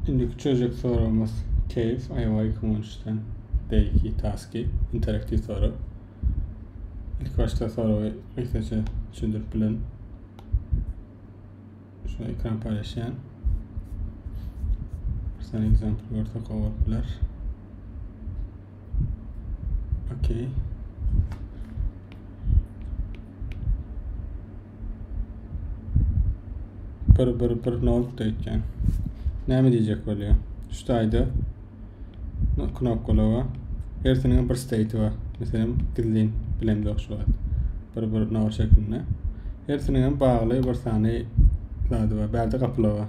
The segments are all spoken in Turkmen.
Indiki çözjek soragymyz Keýf, aýawa iki müň on üçden Deýki, Taski, interaktiw sorag. İlk başda soragy mektepçe düşündirip bilen. Şu ekran paylaşan. Bir tane example görsek olup biler. Okey. Bir bir bir nokta etken. Näme diyecek bolýar? Şu taýda knopkalara hersiniň bir state bar. Meselem gizlin bilen yok şu wagt. Bir bir nokta şeklinde. Hersiniň bagly bir sany zady bar. Bärde gapylar bar.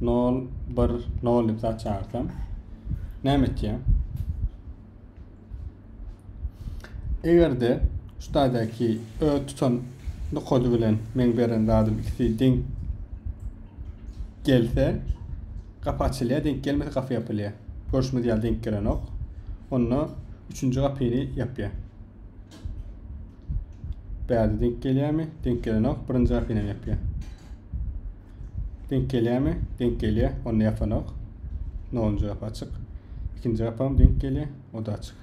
0 1 0 diýip zat çagyrsam näme etýär? Egerde şu taýdaky öz tutan nokady bilen men beren zadym ikisi deň gelse gapy açylýar, deň gelmese gapy ýapylýar. Görşümiz ýaly deň gelenok. Onda üçünji gapyny ýapýar. Bärde deň gelýärmi? Deň gelenok. Birinji gapyny ýapýar. Denk gelýärmi? Denk gelýär. Onda ýapanok. Nowunjy gapy açyk. Ikinji gapam denk gelýär. O da açyk.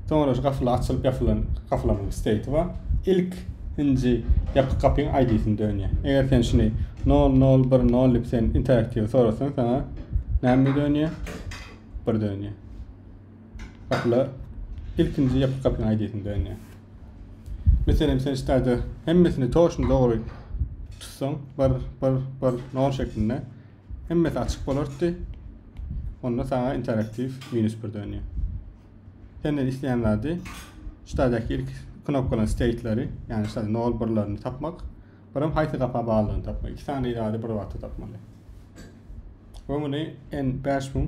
Soňra şu gapylar açylyp ýapylan gapylaryň state bar. Ilk inji ýapyk gapyň ID-sini dönýär. Eger sen şuny 0010 diýip sen interaktiw sorasaň sana näme dönýär? Bir dönýär. Gapyla ilkinji ýapyk gapyny aýdaýsynda indi. Meselem sen ştada hemmesini toşun dogry tutsaň, bir bir bir nol şeklinde hemmesi açyk bolardy. Onda sana interaktiv minus bir dönýä. Senden isleýän zady ştadaky ilk knopkalan state'leri, ýagny ştada nol birlerini tapmak. Birem haýsy gapa baglyny tapmaly. Iki sany zady bir wagtda tapmaly. We muny en bäş müň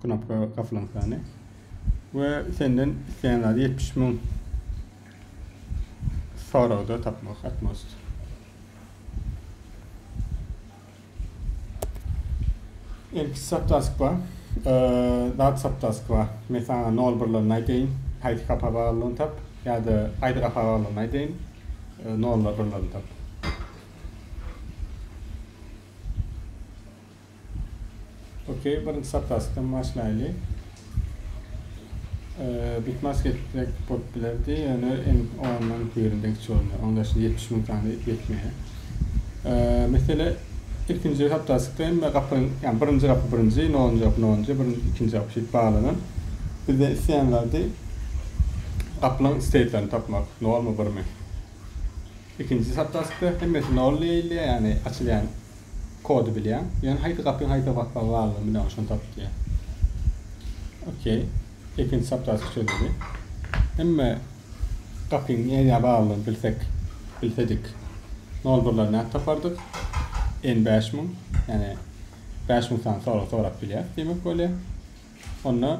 knopka gapylan sany. We senden isleýän zady ýetmiş müň soragda tapmak atmost. Ilki saptaskwa, zat saptaskwa. Men saňa nol birlerini aýdaýyn. Haýsy kapa baglydygyny tap ýa-da haýsy kapa baglydygyny aýdaýyn. Nollar birlerini tap. Ok birinji sapasdan başlaýly. Bitmas geçsek bolup bilerdi, ýöne en ondan birinde geçip bolmaýar. Onda daşda 70 müň sany ýetmeýär. Mesele ikinji sapasykda hem gapyň, ýa birinji gapy birinji, nolunji gapy nolunji, birinji ikinji gapy şeýdip baglanan. Bizde isleýän zady gapylaryň steýtlerini tapmak, nolmy birmi. Ikinji sapdaspda hemmesi nol diýilýär, ýagny açylýan kody bilýäň. Ýöne haýsy gapyň haýsa basmagy baglydygyny bilýäň, şony tapyp diýýär. Ok. Ikinji sapdasp çözüldi. Hemme gapyň nädýä baglydygyny bilsek, bilsedik, nol birleri nädip tapardyk? N bäş müň, ýagny bäş müň sany sorag sorap bilýäris diýmek bolýar. Onda.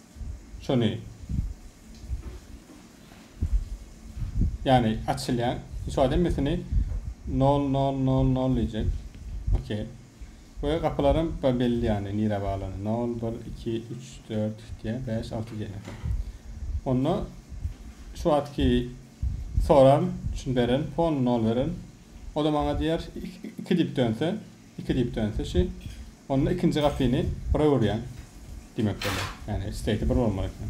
şony ýagny açylýan şu wagt hemmesini nol nol nol nol diýjek ok we gapylaram belli ýagny nirä baglany nol bir iki üç dört diýýär bäş alty diýýär onda şu wagtky soran şuny beren fon nol beren o da maňa diýer iki diýip dönse Iki diýip dönse-şi, onda ikinji gapyny bire urýaň. Diýmek bolýar. Ýagny slate bir bolmaly eken.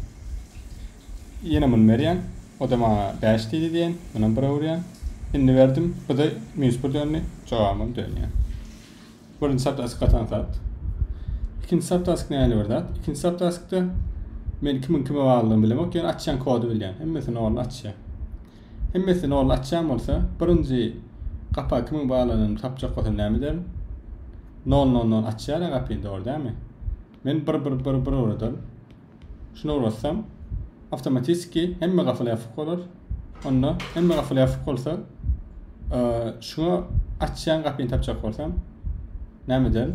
Ýene muny berýäň. O-da maňa bäş diýdi diýen. Munam bire urýaň. Indi berdim. Bu-da minus bir döndi. Jogabym dönýär. Birinji saptask gatan zat. Ikinji saptask näli bir zat? Ikinji saptaskda men kimiň kime baglydygyny bilemok, ýöne açýan kody bilýän. Hemmesini orny açýan. Hemmesini ol açýan bolsa, birinji gapa kimiň baglanyny tapjak bolsa näme ederin? Nol nol nol açýar-a gapyny, dogry dälmi? Men bir bir bir bir ugradyryn. Şuny ugratsam, awtomatistki hemme gafyl ýapyk bolar. Onda hemme gafyl ýapyk bolsa, şuňa açýan gapyny tapjak bolsam, näme ederin?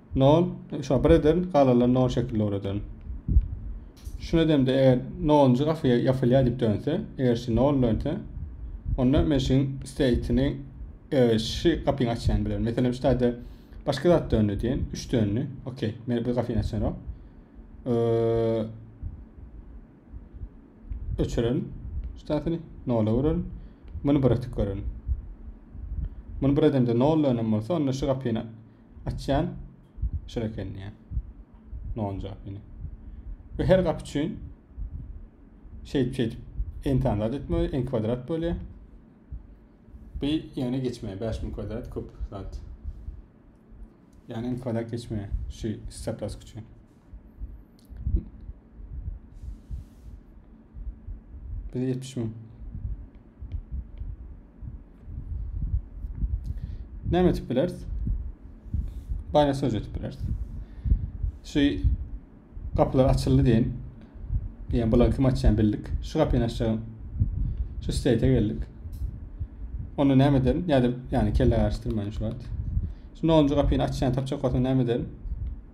nol şo bir ederin galalan nol şekil dogry ederin şun edemde eger noluncu gafyya yapylya dip dönse eger şu nol dönse onda men şun stateini e, şu gafyny açyan bilen mesela şu tayda başka zat döndi diyen üç döndi okey men bir gafyny açyan o e, öçüren şu taytini nola vurun bunu bıraktık görün bunu bir edemde nol dönen bolsa onda şu gafyny Açýan şur eken diýýär. Non jogap ýene. Bu her gap üçin şeýdip şeýdip n tane zat etmeli, n kwadrat bolýar. Bu ýöne geçmeýär. 5000 kwadrat köp zat. Yani n kwadrat geçmeýär şu hesaplaşyk üçin. Biz 70 müň. Näme etip bileris? Baýna söz etip bileris. Şu gapylar açyldy diýen. Diýen bular kim açýan bildik. Şu gapyny açýan. Şu siteýte geldik. Onda näme ederin? Ýa-da ýany kelle garşdyrmaýyn şu wagt. Şu 10-njy gapyny açýan tapjak bolsa näme ederin?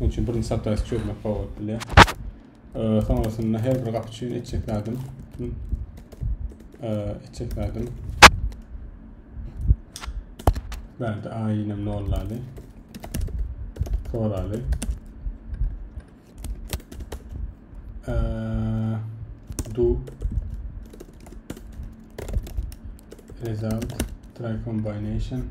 Munuň üçin birinji satyrasty çözmek bolup biler. Sonrasynda her bir gap üçin etjek zadym etjek zadym Bärde A ýene nollaly. Soraly. do result try combination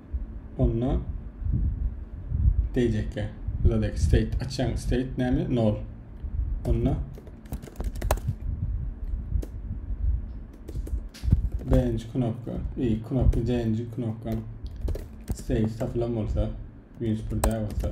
onda diyecekler. Buradaki state açan state name nol. Onda birinci knopka, ilk knopka, birinci knopka state tapılan olsa, 101 olsa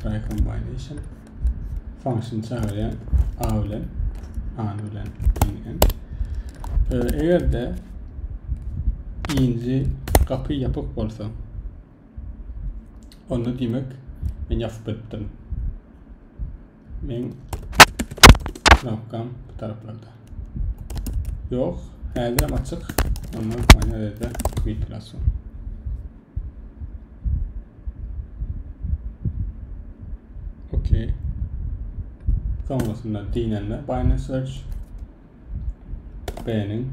Try combination function çagyrýan a bilen a bilen diýen. Eger de inji gapy ýapyk bolsa onda diýmek men ýapyp beripdirin. Men knopkam bu taraflarda. Yok. Häzir hem açyk. Ama mana ýerde mikrofon. Okey. Sonrasynda dinlenme Binance Search. Beğenin.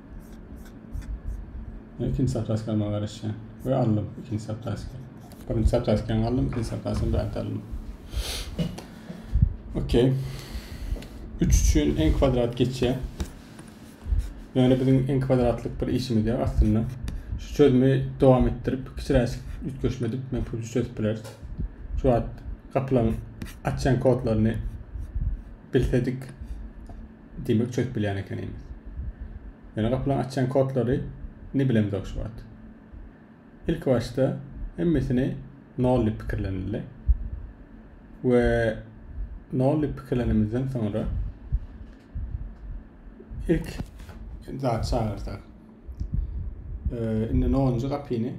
ikinji zapraska almaga garaşýan we aldym ikinji zapraska birinji zapraskany aldym ikinji zapraskany bärde aldym okey üç üçin n kwadrat geçýär ýöne biziň n kwadratlyk bir işimiz ýok aslynda şu çözümi dowam etdirip kiçiräşik üýtgeşme edip men pul çözüp bileris şu wagt gapylaryň açýan kodlaryny bilsedik Diýmek çözüp bilýän ekeniňiz. Ýöne gapylaň açýan kodlary ni bilemzok şu wagt. Ilki başda hemmesini nol diýip pikirlenildi. We nol diýip pikirlenimizden soňra ilk zat çagyrsak. Ee, indi nonuncu gapyny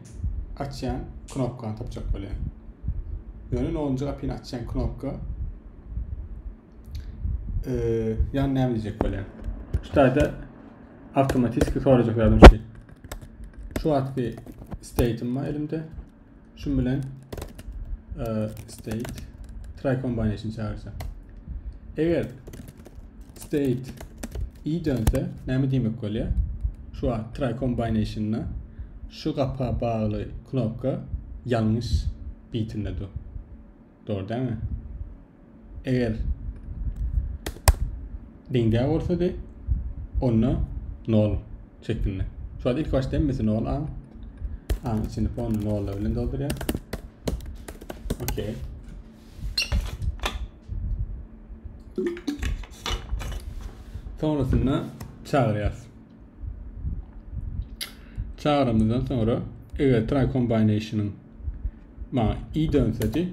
açýan knopkany tapjak bolýan. Ýöne nonuncu gapyny açýan knopka Ee, ýa näme diýjek bolýan? Şu taýda awtomatiski sorajak ýalam şu. Şu wagtky state'im bar elimde. Şu bilen e, state try combination çagyrsa. Eger state i dönse näme diýmek bolýar? Şu wagt try combination'da şu gapa bagly knopka ýalňyş bitinde dur. Dor dämi? Eger deňde bolsa de onda 0 şeklinde. Şu an ilk başda hemmesi 0 a. A içini fon 0 bilen dolduruyor. Okey. Sonrasında çağırıyoruz. Çagramyzdan soňra eger try combination-yň maňa i dönsedi,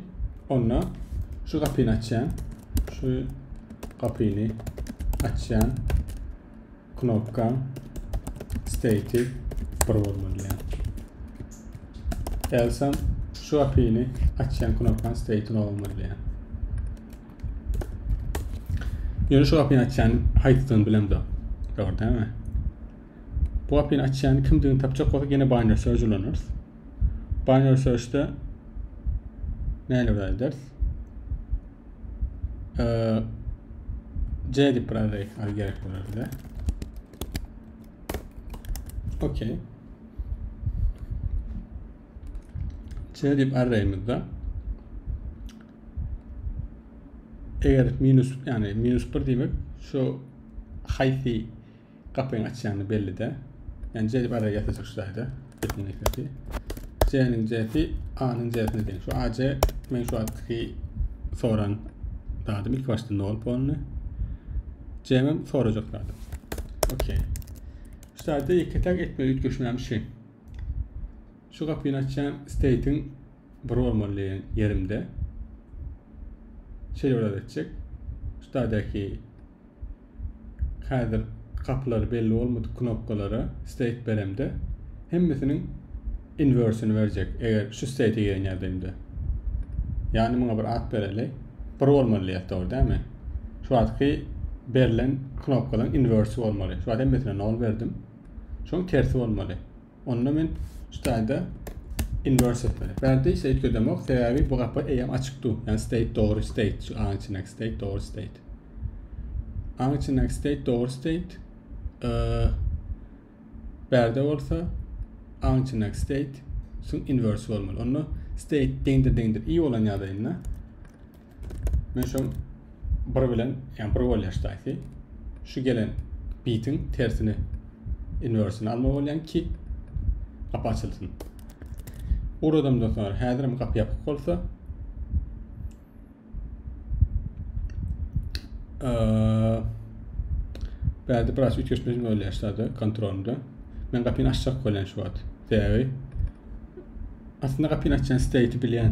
onda şu gapyny açýan, şu gapyny açýan knopka state bir bolmaly ýa. Else şu gapyny açýan knopka state nol bolmaly ýa. Ýöne şu gapyny açýan haýsydygyny bilemzok. Dogry dämi? Bu gapyny açýan kimdigini tapjak bolsa ýene binary search ulanarys. Binary search'de näle bir ederiz? Ee, C dip bir array al gerek bolar bize. Okey. C dip array'imizde Eger minus, ýagny minus 1 diýmek, şu haýsy gapyny açýany belli-de. Ýagny C diýip araya ýazyjak şu zaýda. Gepiniň esasy. C-niň C-si A-nyň C-sine deň. Şu AC men şu atky soran zadym ilk başda ne bolup bolny. C-nim sorajak zadym. Okey. Şu zaýda ýeke-täk etme üýtgeşmem şu. Şu gapyny açýan state-iň bir bolmaly diýen ýerimde şeýle bir etjek. Şudaky häzir gapylary belli bolmadyk knopkalara state beremde hemmesiniň inwersini berjek eger şu state gelen ýagdaýymda. Ýagny muňa bir at bereli. Bir bolmaly diýýär dogry dämi? Şu wagtky berlen knopkadan inversi bolmaly. Şu wagt hemmesine 0 berdim. Şoň tersi bolmaly. Onda men şu taýda inverse etmeli. Bärde ise öýtgedemok, sebäbi bu gapy eýýäm açyk dur. Yani state dogry state, şu aň içindäki state dogry state. Aň içindäki state dogry state. Ee, bärde bolsa aň içindäki state şu inverse bolmaly. Onda state deňdir deňdir i bolan ýagdaýynda Men şu bir bilen, yani bir bolýar ştaýsy. Şu gelen bitin tersini inversini alma bolýan ki gap açylsyn. Uradamdan soňra häzirim gap ýapyk bolsa Bärde biraz üýtgeşmeli bolýar ştada kontrolda. Men gapyny açjak bolýan şu wagt. Sebäbi aslynda gapyny açýan state bilýän.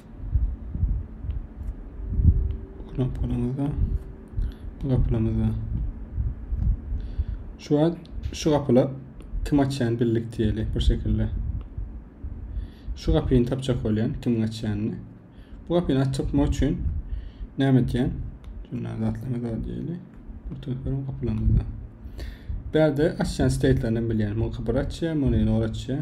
Knopkalarymyzda, gapylarymyzda. Şu an şu gapylar kim açýan bildik diýeli bir şekilde. Şu gapyny tapjak bolýan kim açýanyny. Bu gapyny açmak üçin näme edýän? Şundan zatlarymyz bar diýeli. Bu telefon gapylarymyzda. Bärde açýan state'lerden bilýän. Muňa bir açýan, muny nol açýan.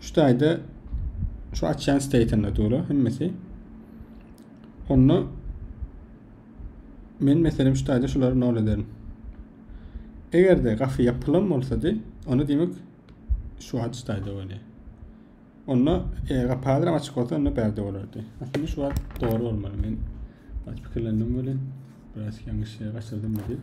Şu taýda şu açýan state'inde dura hemmesi. Onda men meselem şu taýda şulary nol ederim. Eger-de gafy ýapylan bolsady, onda diýmek şu wagt şu taýda bolýar. Onda eger gapy hazır açyk bolsa, onda bärde bolardy. Aslynda şu wagt dogry bolmaly. Men pikirlendim welin biraz ýalňyş ýere gaçyrdym diýip.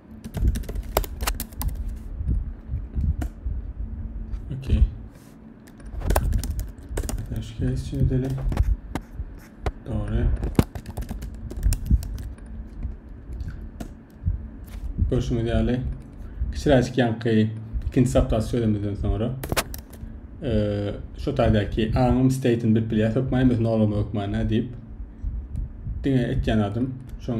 Okey. Dash case için edelim. Doğru. Görüşümüz ýaly. Kiçiräjik ýaňky ikinci saptasy çözemizden sonra e, şu taýdaky aňym state'ini bilip bilýär. Hökman biz nolama hökmana diýip diňe etýän adym. Şoň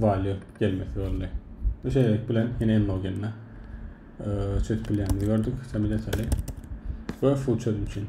Valýu gelmesi boldy. Bu şeýlelik bilen ýene endogenine çözüp bilýänimizi gördük. Sen bilen söyle. Ve full çözüm için.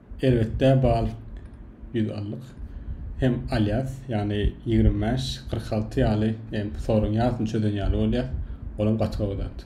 Erbetde bal ýüz allyk hem alýas, ýagny ýigrimi bäş, kyrk alty ýaly hem soruň ýarsyny çözen ýaly bolýas, olam gaty gowy zat.